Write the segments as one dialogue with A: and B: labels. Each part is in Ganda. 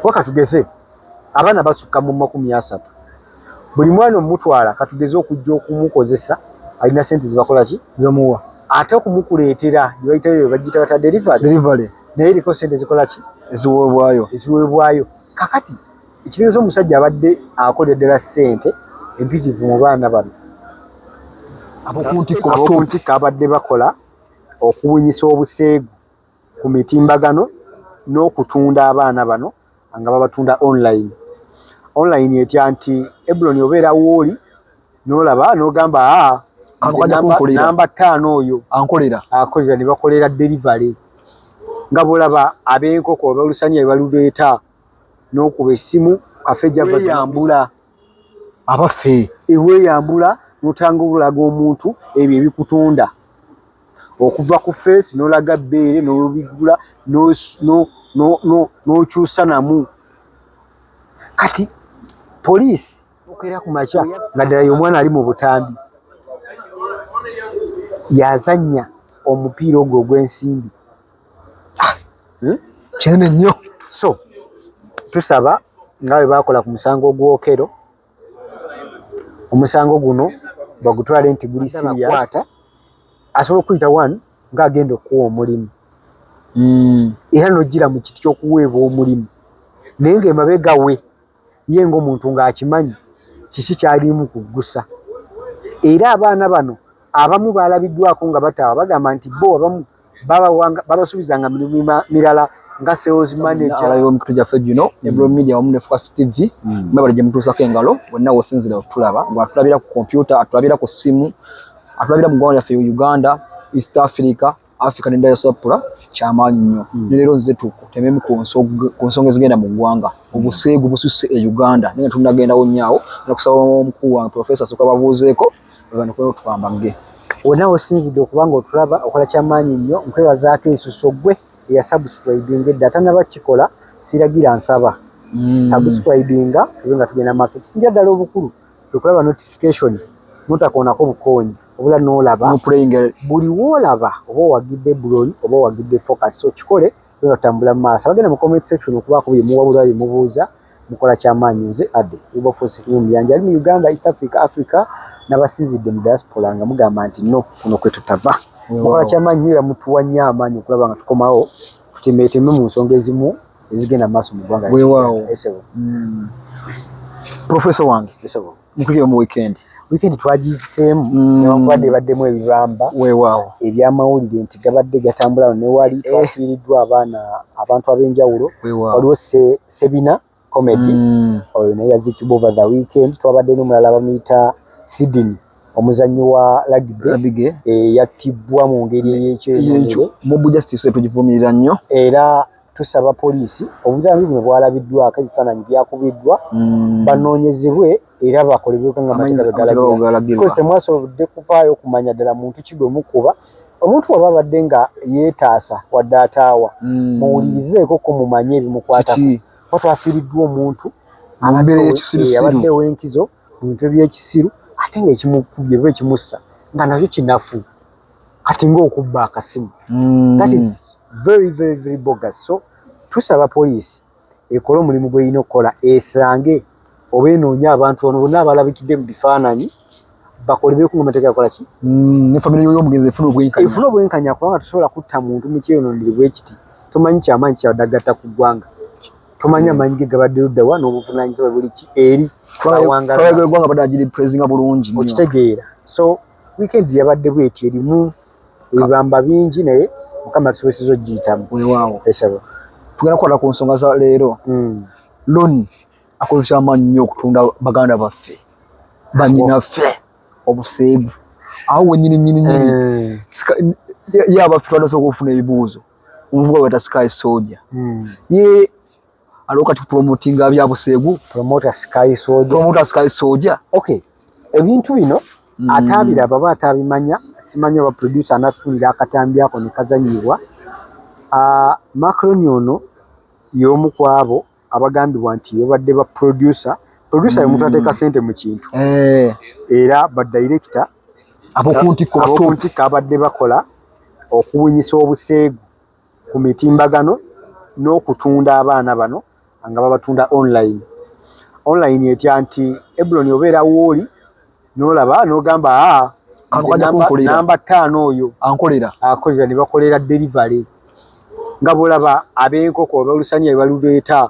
A: kuba katugeze abaana basukka mu makumi asatu buli mwana omutwala katugeze okujja okumukozesa alina sente zibakola ki zomuwa ate
B: okumukuleetera
A: gyebayitayo bagiyita bata delivery naye eriko sente zikola ki eziweebwayo eziweebwayo kakati ekitegeeza omusajja abadde akolera ddala ssente empitivu mu baana bano abokuntikko abadde bakola okuwunyisa obuseegu ku mitimbagano n'okutunda abaana bano nga babatunda online online etya nti ebuloni obeera wooli n'olaba n'ogamba ah, namba ttaano oyo ankolera akolera ne bakolera delivery nga bw'olaba ab'enkoko abalusanya ebaluleeta n'okuba essimu kafe gyavayambula abaffe
B: eweyambula
A: n'otanga obulaga omuntu ebyo ebikutunda okuva ku feesi n'olaga bbeere n'olubigula n'okyusa namu kati poliisi okera ku makya nga ddala ye omwana ali mu butambi yazannya omupiira ogwo ogw'ensimbi ah, hmm?
B: kinene nnyo so
A: tusaba nga bwe baakola ku musango ogwokero omusango guno bagutwale nti guli siriyakwata asobola okuyita one ng'agenda okuwa omulimu hmm. era nojjira mu kiti ky'okuweebwa omulimu naye ng'emabega we ye ng'omuntu ng'akimanyi kiki kyalimu kuggusa era abaana bano abamu baalabiddwako nga bataawa bagamba nti bo abamu babasuubizanga mirimu mirala nga sales manager yo mikutu gyaffe gino mm.
B: ebro media wamu ne focus tv mm. mwebale gye mutuusako engalo wenna wosinzira okutulaba nga atulabira ku kompyuta atulabira ku ssimu atulabira mu ggwanga lyaffe uganda east africa Africa ne diaspora kyamaanyi nnyo mm. ne leero nze tukutememu ku nsonga ezigenda mu ggwanga obuseegu bususse e Uganda naye nga tunagendawo nnyawo nakusaba omukulu wange profesa soka babuuzeeko bebanokweo twambagge wonna osinzidde
A: okuba nga otulaba okola kyamaanyi nnyo nkwebazaako ensuso gwe eya subscribing edda atanaba kikola siragira nsaba mm. subscribinga tube nga tugenda maaso kisingira ddala obukulu tukulaba notification notakoonako bukoonyi obula n'olaba nga buli woolaba oba owagidde buloli oba owagidde focus so kikole era otambula mu maaso abagenda mu comment section okubaako bye muwabulwa bye mubuuza mukola kyamaanyi nze adde ubafosekinyomuyanja ali mu uganda east africa africa nabasinzidde mu diaspora nga mugamba nti no kuno kwe tutava mukola kyamaanyi nyo era mutuwa nnyo amaanyi okulaba nga tukomawo tutemeeteme mu nsonga ezimu ezigenda mu maaso mu ggwanga wewaawo mm.
B: profeso wange Mukubye mu weekend. Weekend twagiyiseemu
A: mm. newankubadde ebaddemu ebibamba weewaawo
B: ebyamawulire nti
A: gabadde gatambula ne wali eh. twafiiriddwa abaana abantu ab'enjawulo waliwo sebina comedy mm. oyo naye yazikibwa over the weekend twabadde n'omulala bamuyita sidini omuzanyi wa lagbe eh, yattibbwa mu ngeri eyekyo mubujasitiso
B: tugivumirira nnyo era tusaba
A: poliisi obujambi buno bwalabiddwako ebifaananyi byakubiddwa mm. banoonyezebwe era bakolebweko nga mateeka begalagirakozesa mwasobodde kuvaayo okumanya ddala muntu ki gwe mukuba omuntu waba abadde nga yeetaasa wadde ataawa mm. muwulirizeeko ko mumanye ebimukwatako kuba twafiiriddwa omuntu abadde ow'enkizo mu bintu ebyekisiru ate ngaekimukubye oba ekimussa nga nakyo kinafu kati ng'okubba akasimu mm. that is very very very bogus so tusaba poliisi ekole omulimu gweyina okukola esange oba enoonye abantu ono bonna abalabikidde mu bifaananyi bakolebeku nga mateeka yakola ki mm, ne famire
B: yoyomugenzi efuna obwenkanya efuna obwenkanya kubanga tusobola
A: kutta muntu mu kyeyonondere bwekiti tomanyi kyamaanyi kyadagatta ku ggwanga tomanyi mm. amaanyi ge gabadde luddawa n'obuvunanyizibwa buli ki eri awangalaegwanga
B: badaagiri presinga bulungi okitegeera so
A: Weekend yabadde bweti erimu ebibamba bingi naye mukama tusoboseza okugiyitamu. Weewaawo. Esaba. Tugenda kukwata ku
B: nsonga za leero. Mm. Loni akozesa amaanyi nnyo okutunda baganda baffe banyinaffe obuseegu awo wenyini nyini nyini eh. yaba ffe twandasa okufuna ebibuuzo omuvuga weta sky soja hmm. ye aliwo kati promotinga bya busegu promoter sky
A: soja promoter sky soja okay ebintu bino mm. atabira baba atabimanya simanya ba producer anatulira akatambi ako ne kazanyibwa a uh, macron yono yomu kwabo abagambibwa nti bebadde ba producer producer mm. yomutwate ka sente mu kintu eh era ba director abokuntikko abokuntikko abadde bakola okuwunyisa obuseegu ku mitimbagano n'okutunda abaana bano nga babatunda online online etya nti ebuloni obeera wooli n'olaba n'ogamba ah, namba ttaano oyo ankolera akolera ne bakolera delivery nga bwolaba ab'enkoko abalusaniya bebaluleeta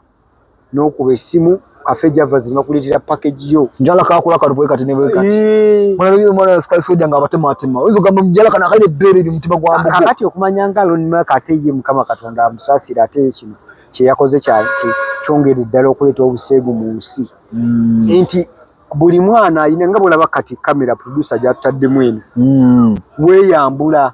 A: nokuba esimu kafe java zino bakuletera package yo njala kakula kalubwe kati
B: nebwe kati eh. mwana yo mwana sky soja nga batema atema ozo gamba njala kana kaine bere ni mutima gwa mbuga kakati okumanya nga lon
A: ma kate ye mukama katonda amusasira ate kino kye yakoze kya ki kyongere ddala okuleta obuseegu mu nsi mm. enti buli mwana ayina nga bolaba kati kamera producer jatadde mwene mm. weyambula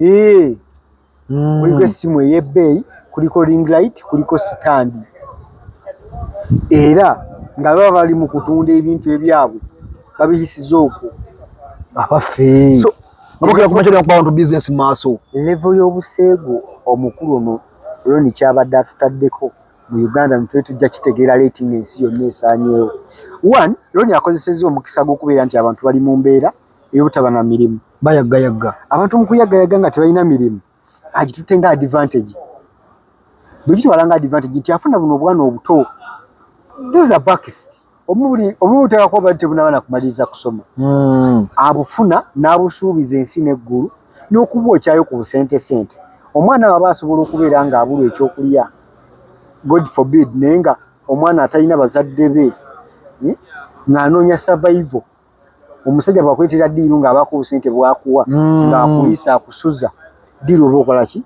B: Eee, mm.
A: kuliko essimu ey'ebbeeyi kuliko ring light kuliko sitandi era nga baba bali mu kutunda ebintu ebyabwe babiyisiza okwo
B: abaffe so, levo y'obuseegu
A: omukulu ono loni kyabadde atutaddeko mu uganda nitwe tujja kitegeera leeti ng'ensi yonna esaanyeewo one loni akozesezza omukisa gw'okubeera nti abantu bali mu mbeera ey'obutaba na mirimu bayaggayagga
B: abantu mu kuyaggayagga
A: nga tebalina mirimu agitutte nga advantage bwe gitwala nga advantage nti afuna buno obwana obuto this is a vaxed omubuli omubuli tekako bali tebunaba nakumaliriza kusoma hmm. abufuna n'abusuubiza ensi n'eggulu n'okuba okyayo ku busente sente omwana waba asobola okubeera nga abulwa ekyokulya god forbid naye nga omwana atalina bazadde be hmm, ng'anoonya survival omusajja bwakuletera diiru ng'abaako obusente bwakuwa mm. ng'akuyisa akusuza diiru oba okola ki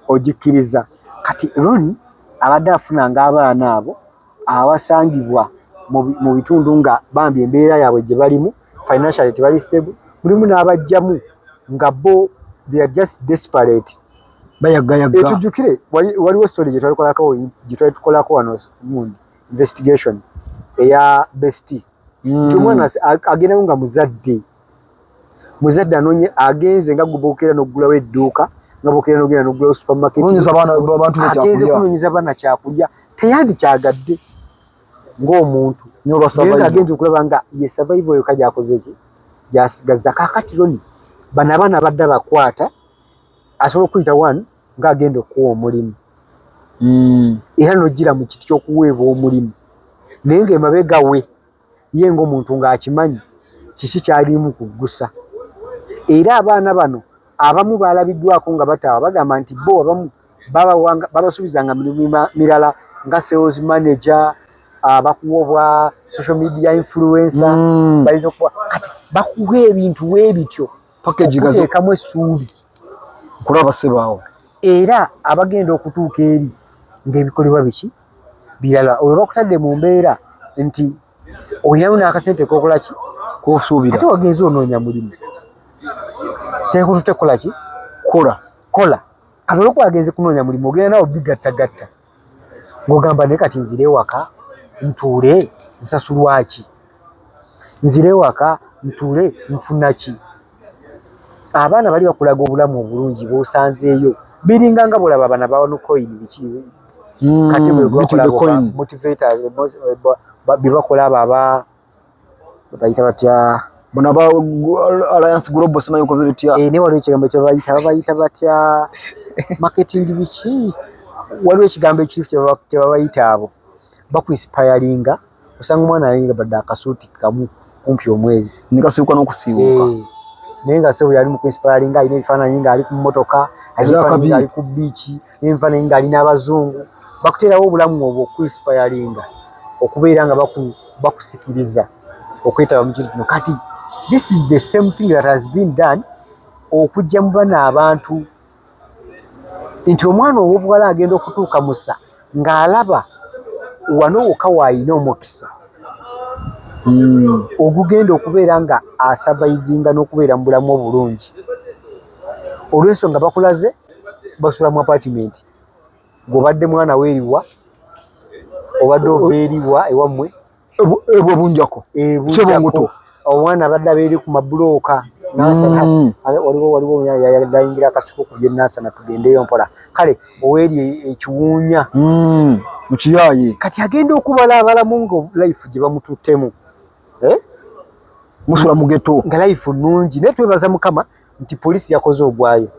A: ogikkiriza kati ron abadde afuna ng'abaana abo abasangibwa mu bitundu nga bambi embeera yaabwe gye balimu financially tebali stable mulimu n'abajjamu nga bo they are just desperate
B: etujjukire
A: waliwo story gyetwalikolako gyetwali tukolako wano mundi investigation eya besti mm. nti omwana agendayo nga muzadde muzadde anonye agenze nga gubokera nokugulawo edduuka nga bokera nogenda nokugulawo supermarketagenze kunonyeza abaana kyakulya teyandikyagadde ngaomuntu agenze okulaba nga ye survival yoka gyakozeki gyasigazza kakati roni bano abaana badde bakwata asobola okuyita one nga agenda okuwa omulimu mm. era nojira mu kiti kyokuweebwa omulimu naye nga emabega we ye ngaomuntu ngaakimanyi kiki kyalimu kuggusa era abaana bano abamu baalabiddwako nga bataawa bagamba nti bo abamu babasuubizanga mirimu mirala nga sales manager ah, bakuwa obwa social media influencer mm. bayinza okuwa kati bakuwa ebintu webityo package gazo ekamu esuubi kulaba
B: sebaawo era
A: abagenda okutuuka eri ng'ebikolebwa biki birala olwo bakutadde mu mbeera nti olinamu n'akasente kokola ki kosuubira ate wagenze onoonya mulimu kyekutute kukola ki kola kola kati olwokuba agenze kunoonya mulimu ogenda nawo bigattagatta ng'ogamba naye kati nzire ewaka ntuule nsasulwaki nzire ewaka ntuule nfuna ki abaana bali bakulaga obulamu obulungi bwosanzeeyo biringa nga bolaba abana bawanukoini biki hmm, kati bwebakola abo aba bayita batya bona ba
B: alliance global simanyi ukoze bitya eh ne waliwo ekigambo kye bayita
A: bayita batya marketing biki waliwo ekigambo ekirifu kye babayita abo bakuinspiringa osanga omwana ayinga badde akasuuti kamu kumpi omwezi nikasibuka n'okusiibuka
B: eh, naye nga
A: sebo yali mu kuinspiringa alina ebifaananyi ng'ali ku mmotoka ali ku biiki nenva naye nga ali n'abazungu bakuteerawo obulamu obwo okuinspiringa okubeera nga bakusikiriza okwetaba mu kintu kino kati this is the same thing that has been done okujja mu bana abantu nti omwana ow'obuwala agenda okutuuka musa ng'alaba wano woka waayina omukisa hmm. ogugenda okubeera nga asavaivinga n'okubeera mu bulamu obulungi olwensonga bakulaze basula mu apartment gobadde mwana weriwa obadde ova eriwa ewammwe
B: ebwa bunjako ebunjako
A: omwana abadde abeeri ku mabulooka nansana mm. waliwo waliwo yayingira akasiko ku bye nansana tugendeyo mpola kale oweeri e, ekiwuunya mm. mu
B: kiyaayi kati agenda okubala
A: abalamu nga life gye bamututtemu eh?
B: musula mugeto nga life nungi
A: naye twebaza mukama nti poliisi yakoze ogwayo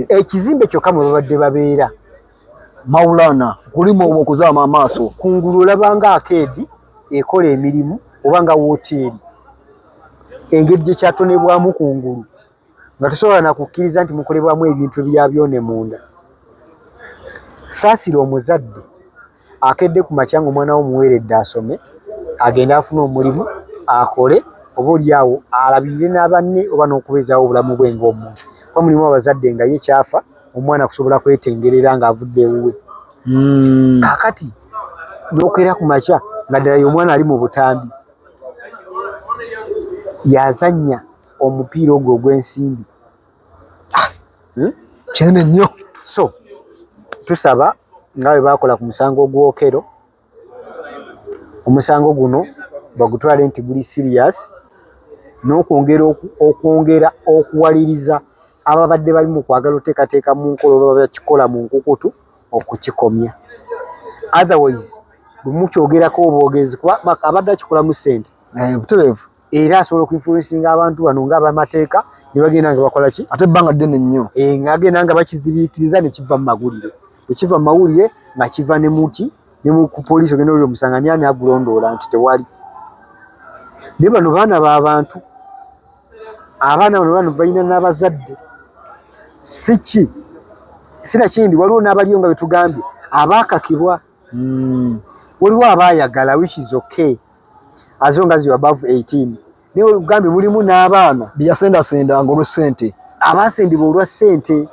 A: ekizimbe kyokka mwe babadde babeera maulana
B: kulimu obwo okuzaama amaaso kungulu olabanga
A: akeedi ekola emirimu oba nga woteeri engeri gye kyatonebwamu kungulu nga tosobola nakukkiriza nti mukolebwamu ebintu ebyabyone munda saasira omuzadde akedde ku makya nga omwana wo muweeredde asome agende afune omulimu akole oba olyawo alabirire n'abanne oba n'okubeezaawo obulamu bwe ng'omuntu kuba mulimu abazadde nga ye kyafa omwana kusobola kwetengerera ng'avudde ewuwe hmm. kakati n'okwera ku makya nga ddala ye omwana ali mu butambi yazannya omupiira ogwo ogw'ensimbi Ah, hmm?
B: kinene nnyo so
A: tusaba nga bwe baakola ku musango gwokero omusango guno bagutwale nti guli sirias n'okwongera okwongera okuwaliriza ababadde bali mu kwagala oteekateeka mu nkola oba bakikola mu nkukutu okukikomya otherwise bwemukyogerako obwogezi kuba abadde akikolamu sente eh, butereevu
B: era asobola
A: okuinfluensinga abantu bano nga abamateeka ne bagenda nga bakola ki ate ebbanga ddene nnyo
B: e, eh, ng'agenda nga
A: bakizibiikiriza ne kiva mu mawulire ekiva mu mawulire nga kiva ne muki ne ku poliisi ogenda olira omusanga ani ani agulondoola nti tewali naye bano baana ba bantu abaana bano bano balina n'abazadde si ki sinakindi waliwo n'abaliyo nga betugambye abaakakibwa mm. waliwo aba ayagala which is okay as long as you above 18 naye olugambye mulimu n'abaana beyasendasendanga olwa
B: sente abaasendibwa olwa
A: sente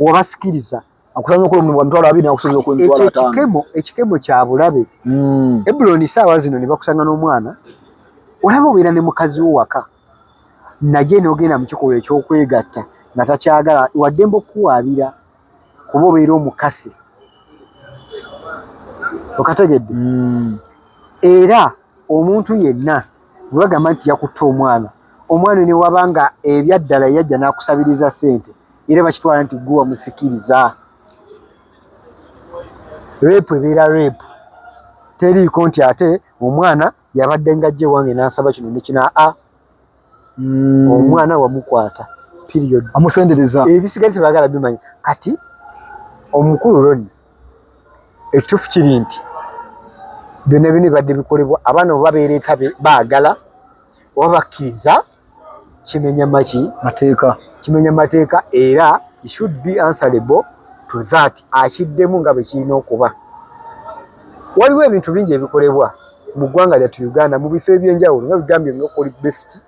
A: wabasikiriza
B: ekikemo ekikemo kya bulabe
A: mm. ebuloni saawa zino ne bakusanga n'omwana olaba obeera ne mukazi wo waka naye n'ogenda mu kikolwa eky'okwegatta nga takyagala waddemba okukuwaabira kuba obeera omukasi okategedde mm. era omuntu yenna webagamba nti yakutta omwana omwana newaba nga ebyaddala yajja nakusabiriza sente era bakitwala nti gwe wamusikiriza repu ebeera repu teriiko nti ate omwana yabadde ngajja ewange nansaba kino nekina a ah, mm. omwana wamukwata period amusendereza ebisigale
B: tebagala
A: bimanya kati omukulu roni ekituufu kiri nti byonna byona bibadde bikolebwa abaana oba beereeta baagala oba bakkiriza kimenya maki mateeka kimenya mateeka era should be answerable to that akiddemu nga bwe kirina okuba waliwo ebintu bingi ebikolebwa mu ggwanga lyattu uganda mu bifo ebyenjawulo nga bigambye nokuli best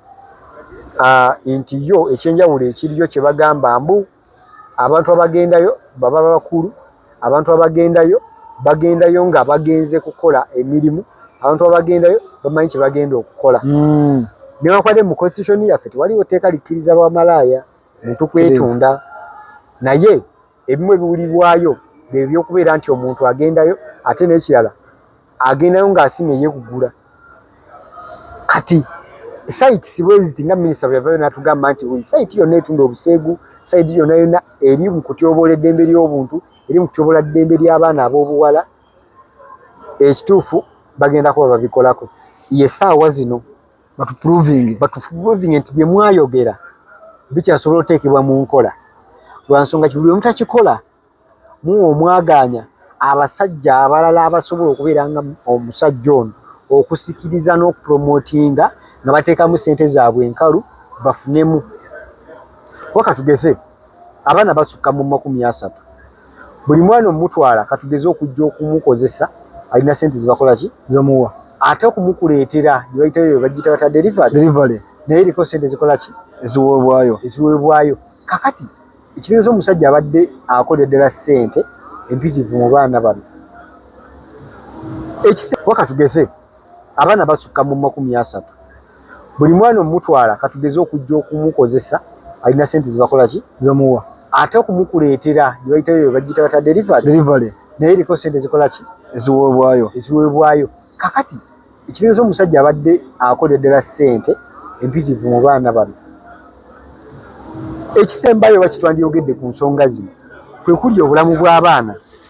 A: ah, nti yo ekyenjawulo ekiriyo kye bagamba mbu abantu abagendayo baba bakulu abantu abagendayo bagendayo nga bagenze kukola emirimu abantu abagendayo bamanyi kye bagenda okukola hmm. newakwade mu constitution yaffe tewaliwo tteeka likkiriza bwamalaaya muntu kwetunda naye ebimu ebiwulirwayo bye byokubeera nti omuntu agendayo ate n'ekirala agendayo ng'asima eyekugula kati saiti sibweziti nga minisita bweyavayo natugamba nti buli saiti yonna etunda obuseegu saiti yonna yonna eri mu kutyoboola eddembe ly'obuntu eri mu kutyoboola ddembe ly'abaana ab'obuwala ekituufu bagenda kuba babikolako ye saawa zino batuprovinge batuprovinge nti bye mwayogera bikyasobola oteekebwa mu nkola lwa nsonga kibuli omu takikola muwa omwagaanya abasajja abalala abasobola okubeera nga omusajja ono okusikiriza n'okupromotinga nga bateekamu ssente zaabwe enkalu bafunemu waka tugeze abaana basukka mu makumi asatu buli mwana omutwala katugeze okujja okumukozesa alina sente zibakola ki zomuwa ate okumukuleetera gyebayitayo bagiyita bata delivery delivery naye eriko sente zikola ki eziweebwayo eziweebwayo kakati ekitegeeza omusajja abadde akolera ddala sente empitivu mu baana bano ekise wakatugeze abaana basukka mu makumi asatu buli mwana omutwala katugeze okujja okumukozesa alina sente zibakola ki zomuwa ate okumukuleetera gyebayitayo bagiyita bata delivery delivery naye eriko sente zikola ki eziweebwayo eziweebwayo kakati ekitegeza omusajja abadde akolera ddala sente empitivu mu baana bano ekisembayo bakitwandiyogedde ku nsonga zino kwe kuli obulamu bw'abaana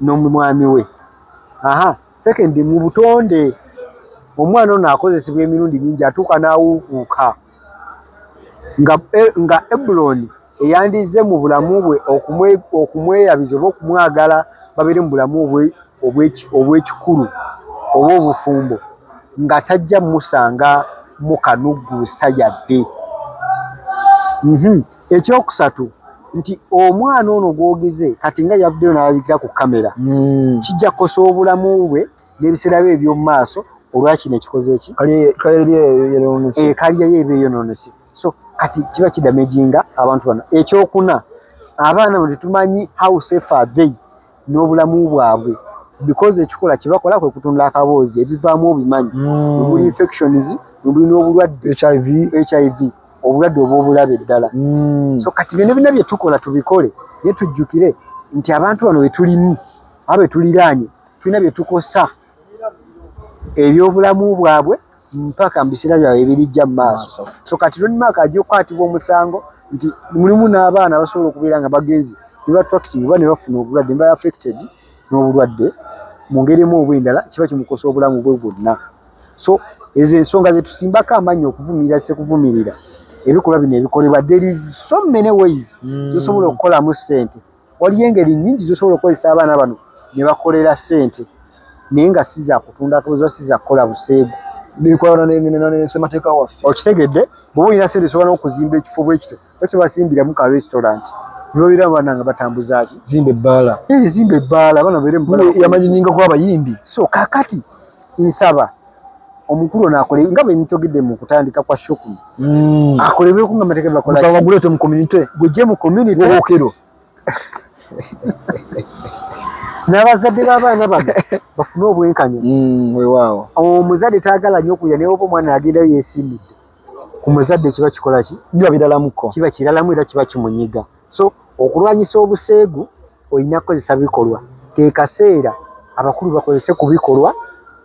A: n'omumwami we aha second mu butonde omwana ono akozesebwa emirundi mingi atuuka n'awuukuuka nga eh, nga ebuloni eyandizze mu bulamu bwe okumweyabiza oba okumwagala babeere mu bulamu obw'ekikulu oba obufumbo nga tajja musanga mu kanugguusa yadde mhm. ekyokusatu nti omwana ono gwogize kati nga yavuddeyo nalabikira ku kamera mm. kijja kukosa obulamu bwe n'ebiseera bye eby'omu maaso olwakino ekikoze eki kaliyayo eba eyononese so kati kiba kidamejinga abantu bano ekyokuna abaana bwe tetumanyi how safe are they n'obulamu bwabwe because ekikola kyebakola kwe kutunda akaboozi ebivaamu obimanyi mm. omuli infections omuli n'obulwadde hiv hiv obulwadde obw'obulabe eddala mm. so kati byona byona byetukola tubikole naye tujjukire nti abantu bano betulimu aba betuliraanye tulina byetukosa ebyobulamu bwabwe mpaka mu biseera byabwe ebirijja mu maaso so kati ronmark ajja okukwatibwa omusango nti mulimu n'abaana basobola okubeera nga bagenzi ne batracting oba ne bafuna obulwadde neba affected n'obulwadde mu ngeri emu oba endala kiba kimukosa obulamu bwe bwonna so ezo ensonga zetusimbako amannyi okuvumirira sekuvumirira ebikolwa bino ebikolebwa there is so many ways mm. zosobola okukolamu ssente Waliyo engeri nyingi zosobola okukozesa abaana bano ne bakolera sente naye nga si za kutunda kabuza si za kukola buseegu. Bikwano ne ne ne semateeka waffe. Okitegedde bw'oba olina sente osobola n'okuzimba ekifo bwe kityo bwe kityo basimbiramu ka restaurant ne babeera abaana nga batambuza ki? Zimba ebbaala. Eh zimba ebbaala abaana babeere mu bbaala. Yamanyiningako abayimbi. So kaakati nsaba omukulu ono akole nga bwe nitogedde mu kutandika kwa shokulu mm. akolebweko nga amateeka bakolaguleete mu community gujje mu community okero n'abazadde b'abaana bano bafune obwenkanya mm, wewaawo omuzadde taagala nnyo okulira naye oba omwana agendayo yeesimbidde ku muzadde kiba kikola ki biba biralamuko kiba kiralamu era kiba kimunyiga so okulwanyisa obuseegu olina kukozesa bikolwa kekaseera abakulu bakozese ku bikolwa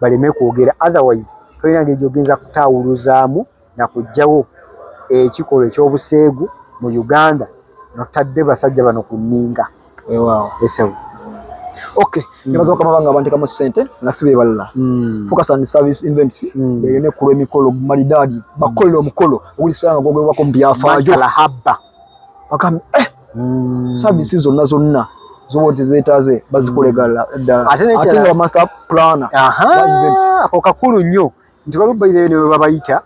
A: baleme kwogera otherwise tolina ngeri gyogenza kutaawuluzaamu nakugjawo ekikolwa ekyobuseegu mu uganda notadde basajja bano ku nninga ewaawo esawo okay mm. nebaza bakama bange abantekamu ssente nga si bebalala mm. focus on service events mm. eyo nekulwa emikolo malidaadi bakukolera omukolo oguli sala nga gwogerwako mu byafaajo bakam eh mm. services zonna zonna zoba tezetaze bazikulegala mm. ddala ate nga master planner ako kakulu nnyo nti balubaire ne babayita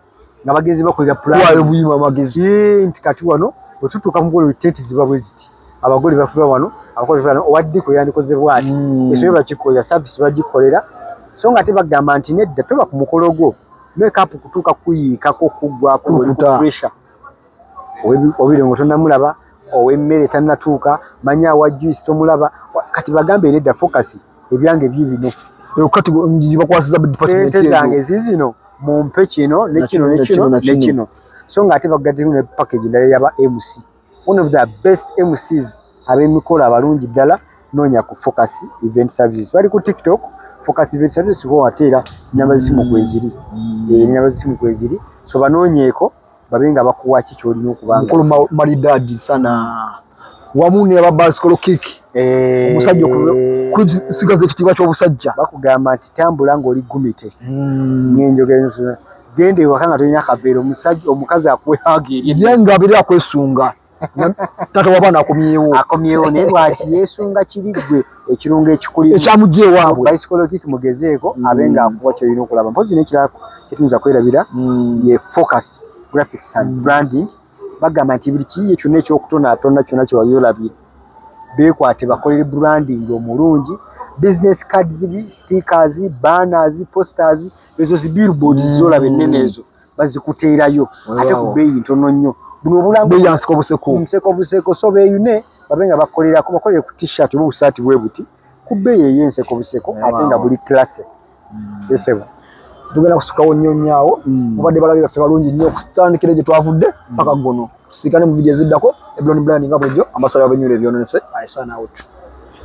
A: nga bagenzi bakolera planwayo buyima amagezi nti kati wano wetutuuka mugolo tenti ziba bwe ziti abagole bafula wano abakola owadde kwe yandikoze bwati mm. esobe bakikolera service bagikolera so nga ate bagamba nti nedda toba ku mukolo gwo makeup kutuuka kuyiikako kuggwako pressure obirongo tonamulaba owemmere tanatuuka manyi awa juice tomulaba kati bagambe nedda focus ebyange bibino sente zange zizino mumpe kino nekino nekino nekino so nga ate bagademu ne package ndala yaba mc one of the best mcs abemikolo abalungi ddala noonya ku focus event services bali ku tiktok focus event services ho ate era namba zisimu kweziri mm. eh, namba zisimu kweziri so banoonyeeko babe nga bakuwa ki kyolina okuba mukulu malidadi sana wamu ne babasikolo kiki eh. omusajja okusigaza ekitiibwa ky'obusajja bakugamba nti tambula ng'oli gumite hmm. nenjogera ensi genda ewaka nga tolina kaveera omusajja omukazi akuwe hagi erye nga abeera akwesunga taata wabaana akomyewo akomyewo naye lwaki yesunga kiri gwe ekirungo ekikuli ekyamujja ewaabwe bisikologic mugezeeko mm. abe nga akuwa kyolina okulaba mpozi nekirala kyetuyinza kwerabira mm. ye focus graphics and mm. branding bagamba nti buli kiyiye kyonna ekyokutonaatonna kyonna kyewali olabye beekwate bakolere branding omulungi business cards stickers banners posters ezo zi billboards zolaba ennene ezo bazikuteerayo ate ku bbeeyi ntono nnyo buno obulangoyansiko buseko museko
B: buseko so beeyune
A: babe nga bakolerako bakolere ku t-shirt oba obusaati bwe buti ku bbeeyi ey'enseko buseko ate nga buli classe hmm. esebo tugenda
B: kusukawo nnyo nnyo awo hmm. mubadde balabe baffe balungi nnyo okutandikira egyo twavudde hmm. paka gono tusiikane mu vidiyo eziddako eblon bland nga bulijjo amasala babenyula ebyononese i sign out